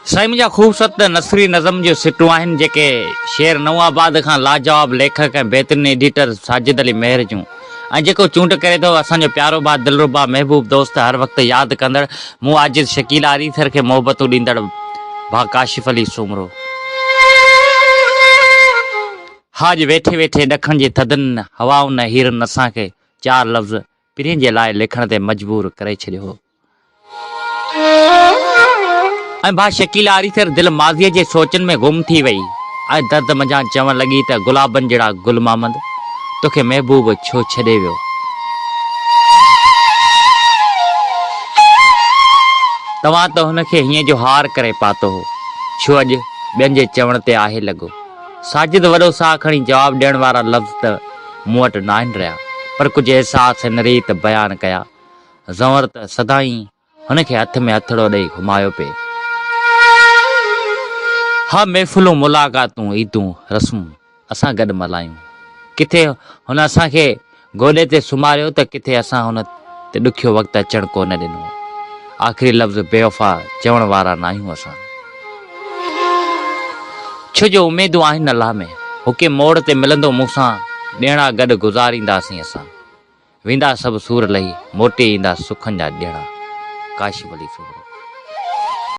سائين منهنجا خوبصورت نثري نظم جون سٽون آهن جيڪي شهر نئون آباد کان لاجواب ليکڪ ۽ بهترين ايڊيٽر ساجد علي مهر جون ۽ جيڪو چونڊ ڪري ٿو اسان جو پيارو ڀاء دلربا محبوب دوست هر وقت ياد ڪندڙ مون عاجز شڪيل آريسر کي محبتون ڏيندڙ ڀاء ڪاشف علي سومرو. ها اڄ ويٺي ويٺي ڏکڻ جي ٿڌن هوائن ۽ هيرن اسان کي چار لفظ پرينء جي لاء لکڻ تي مجبور ڪري ڇڏيو هو. ۽ ڀا شڪيلا آريسر دل ماضيء جي سوچن ۾ گم ٿي وئي ۽ درد منجهان چوڻ لڳي ته گلابن جهڙا گل محمد توکي محبوب ڇو ڇڏي ويو. توهان ته هن کي هيئن جو هار ڪري پاتو هو ڇو اڄ ٻين جي چوڻ تي آهي لڳو. ساجد وڏو ساهه کڻي جواب ڏيڻ وارا لفظ ته مون وٽ ناهن رهيا پر ڪجهه احساس هن ريت بيان ڪيا. زنور ته سدائين هن کي هٿ ۾ هٿڙو ڏئي گهمايو پئي. ها محفلون ملاقاتون عيدون رسمون اسان گڏ ملهايون. ڪٿي هن اسان کي گوڏي تي سمهاريو ته ڪٿي اسان هن تي ڏکيو وقت اچڻ ڪو نه ڏنو. آخري لفظ بيوفا چوڻ وارا ناهيون اسان. ڇو جو اميدون آهن الله ۾. هڪي موڙ تي ملندو مون سان ڏيڻا گڏ گذارينداسين اسان. ويندا سڀ سور لهي، موٽي ايندا سکن جا ڏيڻا. ڪاشف علي سومرو.